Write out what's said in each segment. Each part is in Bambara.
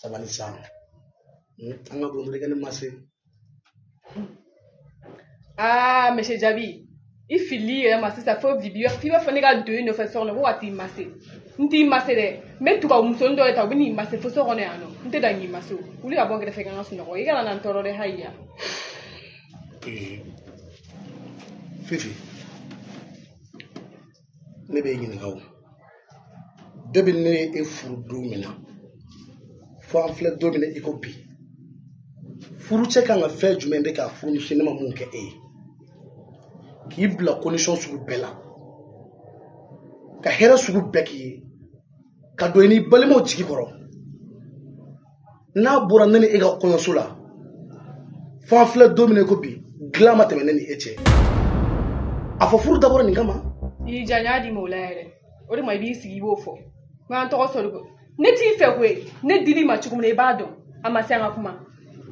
sabali sa hmm, an ka bon don i ka ne masi aa ah, monsieur jabi i fili yɛrɛ ma sisan fo bibi f'i b'a fɔ ne ka don i nɔfɛ so kɔnɔ ko ka t'i masi n t'i masi dɛ n bɛ tubabu musonin dɔ de ta a bɛ n'i masi fo so kɔnɔ yan nɔ n tɛ dan k'i masi o wuli ka bɔ n kɛrɛfɛ ka n ka sunɔgɔ i kana na n tɔɔrɔ dɛ haya fifi ne b'e ɲininka o de bi ne ye e furu don min na fo an filɛ don min na i ko bi furucɛ kan ka fɛn jumɛn de k'a furumuso ye ne ma mun kɛ e ye k'i bila condition sugu bɛɛ la ka hɛrɛ sugu bɛɛ k'i ye ka don i ni balimaw jigi kɔrɔ n'a bɔra ne ni e ka kɔɲɔso la fo an filɛ don min na ko bi dilan ma tɛmɛ ne ni e cɛ a fɔ furu dabɔra nin kama i ja n y'a di ma o la yɛrɛ o de ma i b'i sigi i b'o fɔ n k'an tɔgɔ sɔrɔ ko ne t'i fɛ koyi ne dil'i ma cogo min na i b'a dɔn a ma se an ka kuma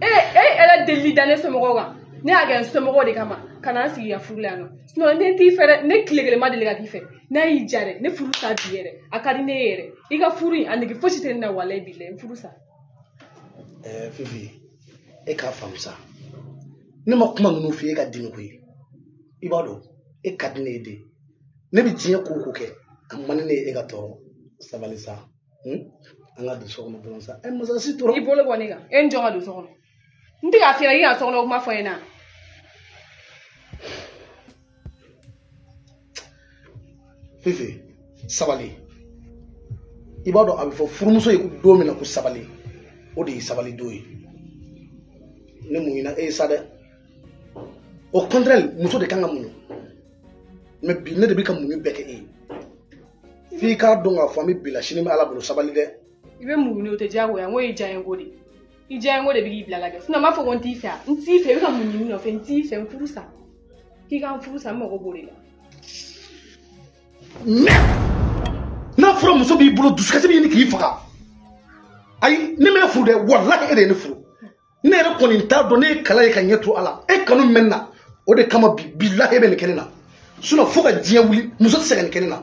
e e yɛrɛ delili da ne somɔgɔw kan ne y'a kɛ n somɔgɔw de kama ka na n sigi i ka furu la yan nɔ ne t'i fɛ dɛ ne tile kelen ma deli ka k'i fɛ n'a y'i diya dɛ ne furu sa bi yɛrɛ a ka di ne ye yɛrɛ i ka furu in a nege fosi tɛ ne na walayi bilahi n furu sa ɛɛ eh, fifi e k'a faamu sa ne ma kuma ninnu f'i ye i ka dimi koyi i b'a dɔn e ka di ne ye de ne bɛ diɲɛ ko o ko kɛ a man di ne ye e ka tɔɔrɔ sabali sa hmm? an ka don so kɔnɔ dɔrɔn sa ɛ eh, masasi tora i bolo bɔ ne kan e ni jɔn ka don so kɔnɔ n tɛ k'a fɛ i ka so kɔnɔ kuma fɔ n ɲɛna fifi sabali i b'a dɔn a bɛ fɔ furumuso ye don min na ko sabali o de ye sabali don ye ne muɲuna e ye sa dɛ au contraire muso de kan ka muɲu mɛ bi ne de bɛ ka muɲu bɛɛ kɛ e ye f'i k'a dɔn k'a fɔ an bɛ bi la sini bɛ ala bolo sabali dɛ i bɛ muɲu o tɛ diyagoya ko ye diyanye ko de i diyanye ko de bɛ k'i bila ka kɛ sinɔn n b'a fɔ ko n t'i fɛ n t'i fɛ i bɛ ka mun ɲini n nɔfɛ n t'i fɛ n furu sa k'i ka n furu sa n mago b'o de la. n'a fɔra muso b'i bolo dusukasi b'a ɲini k'i faga ayi ne m'e furu dɛ walahi e de ye ne furu ne yɛrɛ kɔni t'a dɔn ne y'a k'ala ye ka ɲɛ to a la e kanu bɛ n na o de kama bi bilahi e bɛ nin kɛ ne na sinɔn fo ka diɲɛ wuli muso tɛ se ka nin kɛ ne na.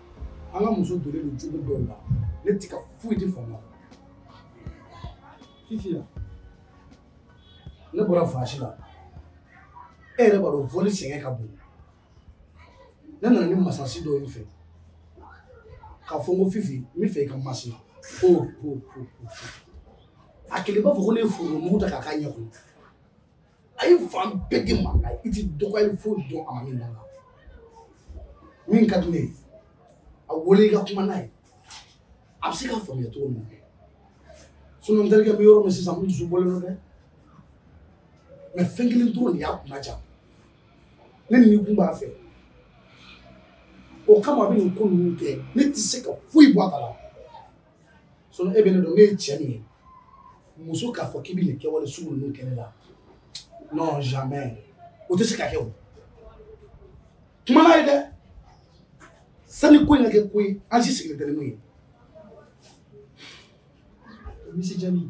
an ka muso donnen don cogo dɔ la ne ti ka foyi di faamu fifi la ne bɔra voyage la e yɛrɛ b'a dɔn vol sɛgɛn ka bon ne nana ni masasi dɔɔni fɛ k'a fɔ n ko fifi n b'a fɛ i ka n masi ko ko ko a kɛlen b'a fɔ ko ne ye foro mugu ta k'a k'a ɲɛ kɔnɔ a ye fan bɛɛ di maa la i ti dɔgɔyali foyi dɔn a ma min na min ka di ne ye a wele i ka kuma n'a ye a bɛ se k'a faamuya cogo min na sinɔn n terikɛ bɛ yɔrɔ min sisan n dusu bɔlen don dɛ mɛ fɛn kelen dɔrɔn de y'a kunnandiya ne nikun b'a fɛ o kama a bɛ nin ko ninnu kɛ ne tɛ se ka foyi bɔ a kala sinɔn e bɛ ne dɔn ne ye cɛ min ye muso k'a fɔ k'i bɛ nin kɛwale sugu ninnu kɛ ne la non jamais o tɛ se ka kɛ o kuma n'a ye dɛ sani ko in ka kɛ ko ye an si sigilen tɛ ni min ye misiye jaabi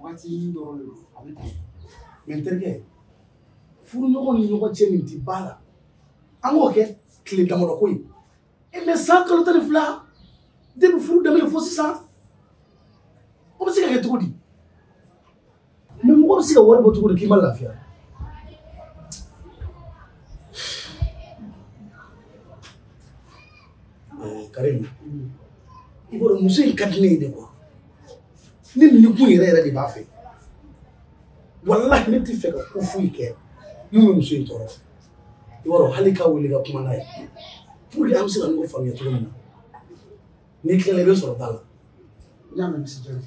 waatinin dɔrɔn de don a bɛ ten mɛ n terikɛ furuɲɔgɔn ni ɲɔgɔn cɛ nin tɛ bala an k'o kɛ tile damadɔ ko ye e mɛ san kalo tan ni fila depi furu daminɛ fo sisan o bɛ se ka kɛ cogo di mɛ mɔgɔ bɛ se ka wari bɔ cogo di k'i ma lafiya karimu i b'a dɔn muso in ka di ne ye de kuwa ne nikun yɛrɛ yɛrɛ de b'a fɛ walahi ne tɛ fɛ ka ko foyi kɛ min bɛ muso in tɔɔrɔ i b'a dɔn hali k'a wele ka kuma n'a ye pour que an bɛ se ka ɲɔgɔn faamuya cogo min na n'i tilala i bɛ n sɔrɔ da la n y'a mɛn misiye jaabi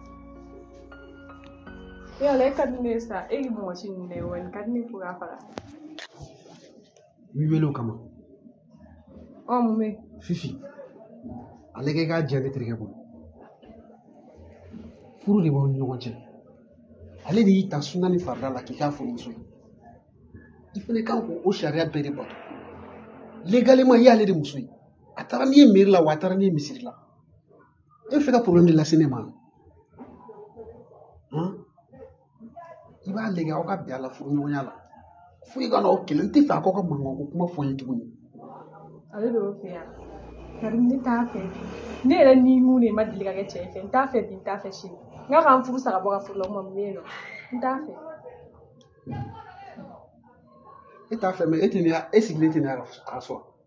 yala e ka di ne ye sa e ye mɔgɔ si nin ne ye wa nin ka di ne fo k'a faga n b'i wele o kama ɔ mun bɛ fifi ale kɛ k'a jɛya ne terikɛ bolo furu de b'aw ni ɲɔgɔn cɛ ale de y'i ta suna ni farida la k'i k'a furumuso ye i fana kan k'o sariya bɛɛ de bato legalema i y'ale de muso ye a taara n'i ye meri la wa a taara n'i ye misiri la e bɛ fɛ ka porobilɛmu de lase ne ma i b'a lajɛ aw ka bɛn a la furuɲɔgɔnya la fo i ka na o kɛ ne tɛ fɛ a k'aw ka mankan ko kuma fɔ n ye tuguni ale de y'o fɔ yan karimu ne t'a fɛ ne yɛrɛ nikun de ma deli ka kɛ cɛ fɛ n t'a fɛ bi n t'a fɛ sini n k'a k'an furu sa ka bɔ ka furu la ɔ mɛ mun bɛ yen nɔn n t'a fɛ e t'a fɛ mɛ e tɛ ne e sigilen tɛ ne ka so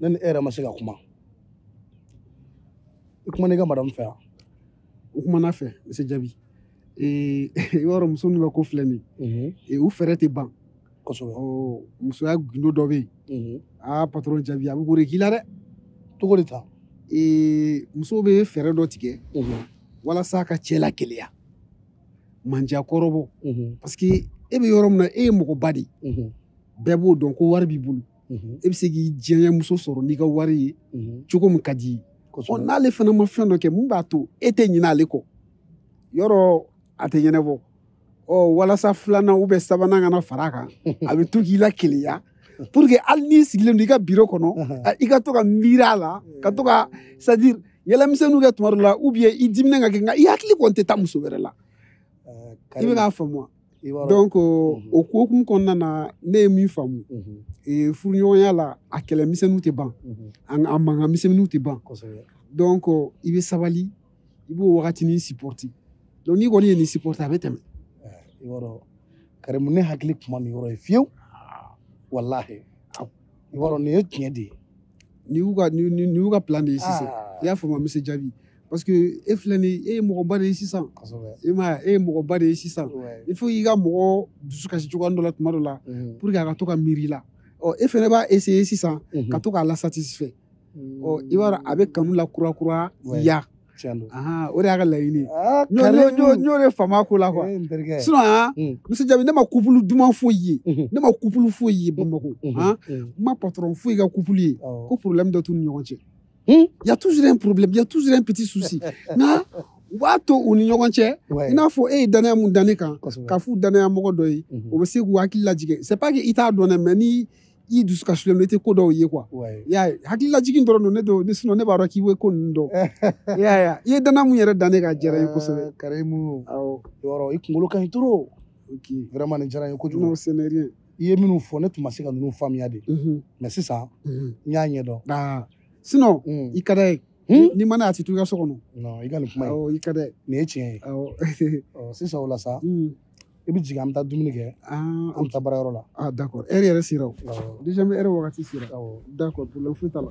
ne ni e yɛrɛ ma se ka kuma i kumana ne ka madamu fɛ wa n kumana a fɛ misiye jaabi i b'a dɔn muso ninnu ka ko filɛ nin ye u fɛɛrɛ tɛ ban kosɛbɛ musoya gundo dɔ bɛ yen aa patɔrɔn jaabi a bɛ k'o de k'i la dɛ cogo di tan musow bɛ fɛɛrɛ dɔ tigɛ walasa ka cɛ la keleya mandiya kɔrɔbɔ parce que e bɛ yɔrɔ min na e ye mɔgɔba de ye bɛɛ b'o dɔn ko wari b'i bolo mhm. e bɛ se k'i diyanye muso sɔrɔ n'i ka wari ye mhm. cogo min ka d'i ye n'ale fana ma fɛn dɔ kɛ min b'a to e tɛ ɲinɛ ale kɔ yɔrɔ a tɛ ɲɛnabɔ ɔ walasa filanan ou bien sabanan kana fara a kan a bɛ to k'i la keleya pour que hali n'i sigilen don i ka biro kɔnɔ i ka to ka miiri a la ka to ka c'est à dire yɛlɛmisɛnninw kɛ tuma dɔ la ou bien i diminen ka kɛ nka i hakili kɔni tɛ taa muso wɛrɛ la i bɛ k'a faamu wa donc mhm. o ko hukumu kɔnɔna na ne ye min faamu mhm. e, furuɲɔgɔnya la a kɛlɛ misɛnninw tɛ ban mhm. a mankan misɛnninw tɛ ban donc i bɛ sabali i b'o wagatinin supporter donc n'i kɔni ye nin supporter a bɛ tɛmɛ eh, karimu ne hakili tun ma nin yɔrɔ ye fiyewu ah. walahi i b'a dɔn nin ye tiɲɛ de ye nin y'u ka nin y'u ka plan de ye sisan ah. i y'a faamu monsieur jaabi parce que e filɛ nin e ye mɔgɔba de ye sisan i m'a ye e ye mɔgɔba de ye sisan il faut k'i ka mɔgɔ dusu kasi cogoya dɔ la tuma dɔ la mhm. pour que a ka to ka miiri i la ɔ e fɛnɛ b'a essayer sisan mhm. ka to k'a lasatisfait ɔ i b'a dɔn a bɛ kanu lakurakuraya o de y'a ka laɲini ye n y'o de faamu a ko la quoi sinon han monsieur jaabi ne ma couple duman foyi ye mhm. ne ma couple foyi ye bamakɔ han n ma patron foyi ka couple ye ko problème dɔ t'u ni ɲɔgɔn cɛ Il y a toujours un problème, il y a toujours un petit souci. Na, u b'a to u ni ɲɔgɔn cɛ i n'a fɔ e ye danaya mun da ne kan k'a f'u danaya mɔgɔ dɔ ye o bɛ se k'u hakili lajigin c'est pas que i t'a dɔn dɛ mais ni i dusu kasilen don i tɛ ko dɔw ye quoi i y'a ye hakili lajigin dɔrɔn don ne don ni sinon ne b'a dɔn k'i bɛ ko ninnu dɔn i y'a ye i ye danaya mun yɛrɛ da ne kan a diyara n ye kosɛbɛ karimu awɔ yɔrɔ i kunkolo ka ɲi trop vraiment nin diyara n ye kojugu non c'est rien i ye minnu fɔ ne tun ma se ka ninnu faamuya de mhm. mais sisan mhm. n y'a ɲɛdɔn ah. sinon mm. i ka d'a ye hmm? n'i man d'a ye a tɛ to i ka so kɔnɔ non i ka nin kuma ye i ka d'a ye nin ye tiɲɛ ye sisan o la sa mm. i bɛ jigin an bɛ taa dumuni kɛ ah, an bɛ taa baarayɔrɔ la ah, d'accord heure yɛrɛ sera o déjà n bɛ heure wagati sera d'accord problème foyi t'a la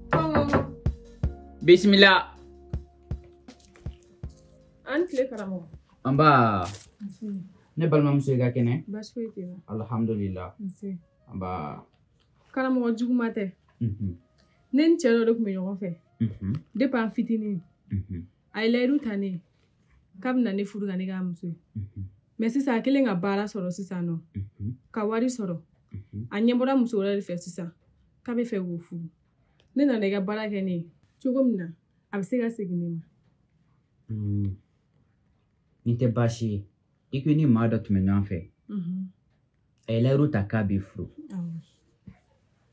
bisimila a ni tile karamɔgɔ nba ne balimamuso i ka kɛnɛ baasi foyi tɛ n na alhamdulila nba karamɔgɔ juguma tɛ mhm. ne ni cɛ dɔ de tun bɛ ɲɔgɔn fɛ mhm. depuis an fitinin mhm. a ye layidu ta ne ye k'a bɛna ne furu ka ne k'a muso ye mais sisan a kɛlen ka baara sɔrɔ sisan nɔ ka wari sɔrɔ a ɲɛbɔra muso wɛrɛ de fɛ sisan k'a bɛ fɛ k'o furu ne nana i ka baara kɛ ne ye cogo min na a bɛ se ka segin ne ma mm. nin tɛ baasi ye i ko i ni maa dɔ tun bɛ ɲɔgɔn fɛ mm-hmm. a ye layiru ta k'a b'i furu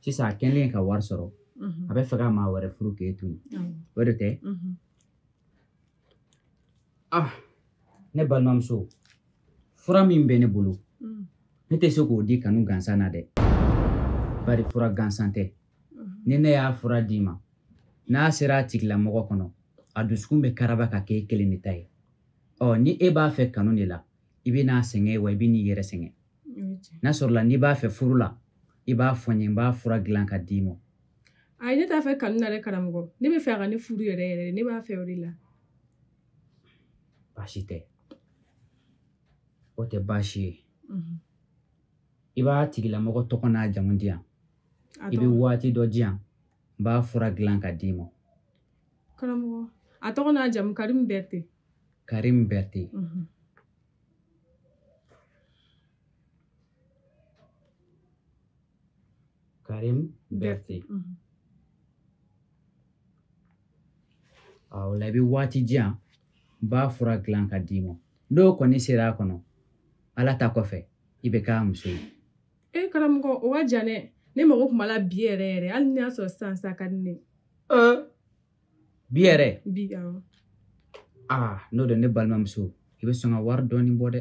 sisan a kɛlen ka wari sɔrɔ mm-hmm. a bɛ fɛ ka maa wɛrɛ furu k'e to yen o de tɛ mm-hmm. ah ne balimamuso fura min bɛ ne bolo mm. ne tɛ se k'o di kanu gansan na dɛ bari fura gansan tɛ mm-hmm. ni ne y'a fura d'i ma n'a sera a tigilamɔgɔ kɔnɔ a dusukun bɛ karaba ka kɛ e kelen de ta ye ɔ ni e b'a fɛ kanu de la i bɛ n'a sɛgɛn wa i bɛ n'i yɛrɛ sɛgɛn n'a sɔrɔla n'i b'a fɛ furu la i b'a fɔ n ye n b'a fura dilan ka d'i ma ayi ne t'a fɛ kanu na dɛ karamɔgɔ ne b'a fɛ a ka ne furu yɛrɛ yɛrɛ ne b'a fɛ o de la baasi tɛ o tɛ baasi ye mhm. i b'a tigilamɔgɔ tɔgɔ n'a jamu di yan i bɛ waati dɔ di yan n b'a fura dilan ka d'i ma karamɔgɔ a tɔgɔ n'a jamu karimu bɛrite karimu bɛrite mhm. Karim Berthe o la i bɛ waati di yan n b'a fura dilan ka d'i ma n'o kɔni sera a kɔnɔ ala ta kɔfɛ i bɛ k'a muso ye e karamɔgɔ o ka jan dɛ ne mago tun b'a la bi yɛrɛ yɛrɛ hali n'i y'a sɔrɔ sisan sa ka di ne bi yɛrɛ bi aa n'o don ne balimamuso i bɛ sɔn ka wari dɔɔni bɔ dɛ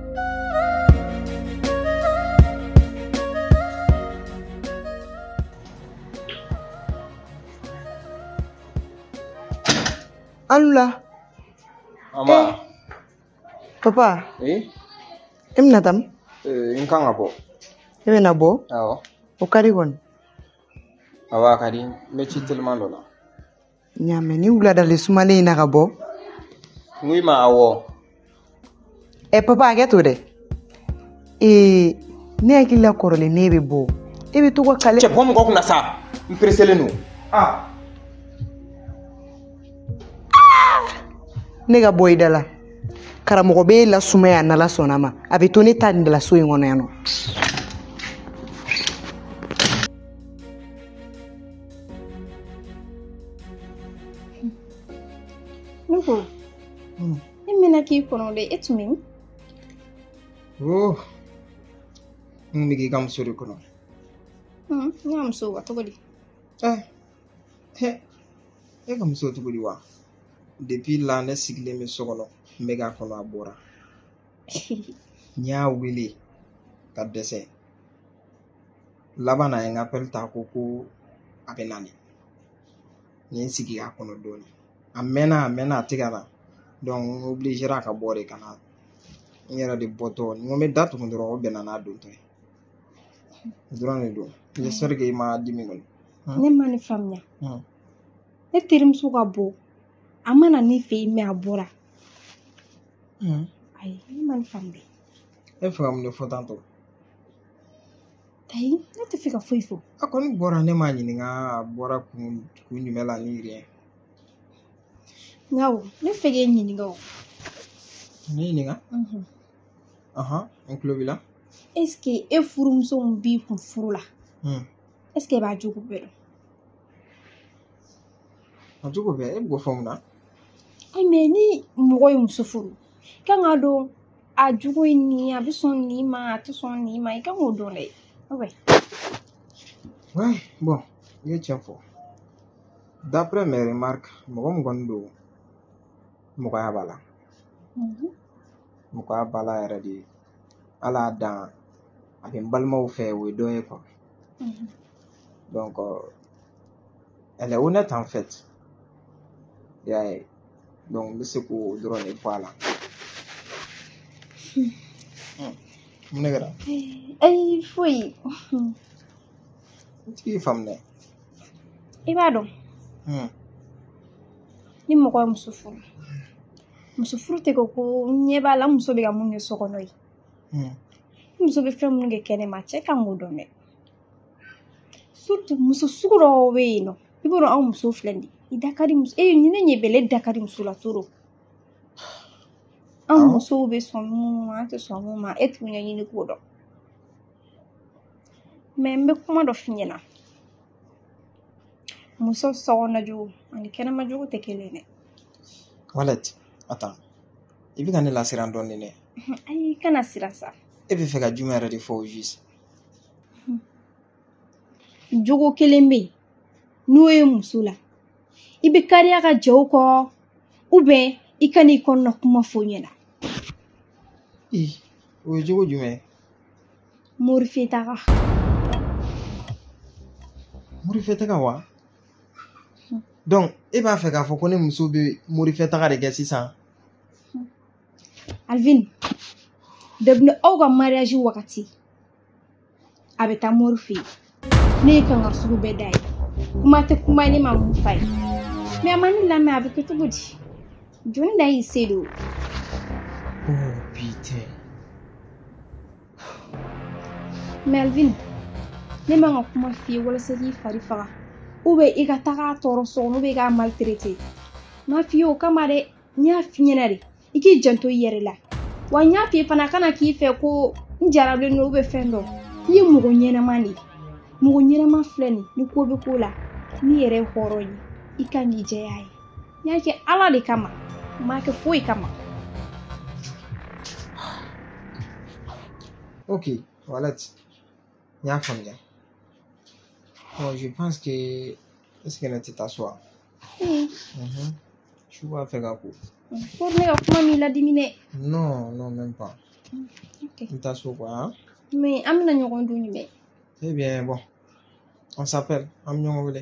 Alula. Mama. Eh. Papa. Eh? E bɛna taa min? Eh, n kan ka bɔ. E bɛna bɔ? Awɔ. O ka di kɔni. Awɔ a ka di n bɛ ci teliman dɔ la. n y'a mɛn ni wuladali sumalen in na ka bɔ n k'i ma awɔ ɛ papa hakɛ to dɛ ee ne hakili la kɔrɔlen ne bɛ bɔ e bɛ to ka kale cɛ bɔ mɔgɔ kunna sa n pereselen don ne ka bon i da la karamɔgɔ bɛ e lasumaya n'ala sɔnna ma a bɛ to ne ta nin de la so in kɔnɔ yan nɔ Ne ko hmm. ne mɛnna k'i kɔnɔ dɛ e tun bɛ min oh. n bɛ k'i ka muso de kɔnɔ hmm, n ka muso wa cogo di eh. e ka muso cogo di wa depuis la ne sigilen bɛ so kɔnɔ n bɛ k'a kɔnɔ a bɔra n y'a wele ka dɛsɛ laban na ye n ka appel ta ko ko a bɛ nani n ye n sigi k'a kɔnɔ dɔɔni a mɛnna a mɛnna a tɛ ka na donc n obligera ka bɔ de ka na n yɛrɛ de bɔtɔ n ko n bɛ da tugu dɔrɔn o bɛnna n'a dontɔ ye o dɔrɔn de don j'espère que i ma dimi kɔni ne ma nin faamuya ne terimuso ka bɔ a ma na ne fɛ yen mais a bɔra ayi ne ma nin faamuya e fɛ ka mun de fɔ tantɔ ayi ne tɛ fɛ ka foyi fɔ a kɔni bɔra ne m'a ɲininka a bɔra kun jumɛn la ni rien nka o ne fɛ k'e ɲininka o ne ɲininka Mhm. ahan n tulo b'i la est ce que e furumuso min b'i kun furu la Hmm. est ce que e b'a jogo bɛɛ dɔn a jogo bɛɛ e b'o fɔ mun na ayi mais ni mɔgɔ ye muso furu kan k'a dɔn a jogo ye nin ye a bɛ sɔn nin ma a tɛ sɔn nin ma i kan k'o dɔn dɛ Ouais, bon, i ye tiɲɛ fɔ d'après mes remarques mɔgɔ min kɔni don mɔgɔya b'a la mɔgɔya b'a la yɛrɛ de ala y'a dan a bɛ n balimaw fɛ o ye dɔ ye quoi donc elle est honnête en fait y'a ye donc n bɛ se k'o dɔrɔn de fɔ a la mun de kɛra ayi foyi n t'i faamu dɛ i b'a dɔn ni mɔgɔ ye muso furu muso furu tɛ ko ko n ɲɛ b'a la muso bɛ ka mun kɛ so kɔnɔ ye ni muso bɛ fɛn minnu kɛ kɛnɛma cɛ kan k'o dɔn dɛ muso sugu dɔw bɛ yen nɔ i b'a dɔn anw muso filɛ nin ye i da ka di muso e ni ne ɲɛ bɛ ne da ka di muso la trop anw musow bɛ sɔn minnu ma an tɛ sɔn minnu ma e t'u ɲɛɲini k'o dɔn mais n bɛ kuma dɔ f'i ɲɛna muso sokɔnɔna jogo ani kɛnɛma jogo tɛ kelen ye dɛ walɛt attends i bɛ ka ne lasiran dɔɔnin dɛ ayi kana siran sa e bɛ fɛ ka jumɛn yɛrɛ de fɔ au juste jogo kelen bɛ yen n'o ye muso la i bɛ kariya ka jɛ o kɔ ou bien i ka n'i kɔnɔna kuma fɔ ɲɛna o ye jogo jumɛn ye morifɛtaga morifɛtaga wa donc e b'a fɛ k'a fɔ ko ne muso bɛ morifɛtaga de kɛ sisan alvin dabila aw ka mariage wagati a bɛ taa mori fɛ yen ne ye kankari sugu bɛɛ d'a ye kuma tɛ kuma ne ma mun f'a ye mais a ma ne lamɛn a bɛ kɛ cogo di jɔni da y'i se don oh putain melvin ne ma n ka kuma f'i ye walasa k'i fari faga ou bien i ka tag'a tɔɔrɔ so kɔnɔ ou bien i k'a maltraiter n m'a f'i ye o kama dɛ n y'a f'i ɲɛna de i k'i janto i yɛrɛ la wa n y'a f'i ye fana kana k'i fɛ ko n jarabilen don ou bien fɛn dɔ i ye mɔgɔ ɲɛnama de ye mɔgɔ ɲɛnama filɛ nin ni ko bɛ ko la n'i yɛrɛ ye hɔrɔn ye i ka n'i jɛya ye n y'a kɛ ala de kama n m'a kɛ foyi kama ok walati n y'a faamuya bon je pense que est-ce que ne tɛ taa so wa su b'a fɛ ka ko ko ne ka kuma m'i ladimi dɛ non non même pas n taa so quoi hein? mais an bɛna ɲɔgɔn ye don jumɛn eh bien bon on s'appelle an bɛ ɲɔgɔn wele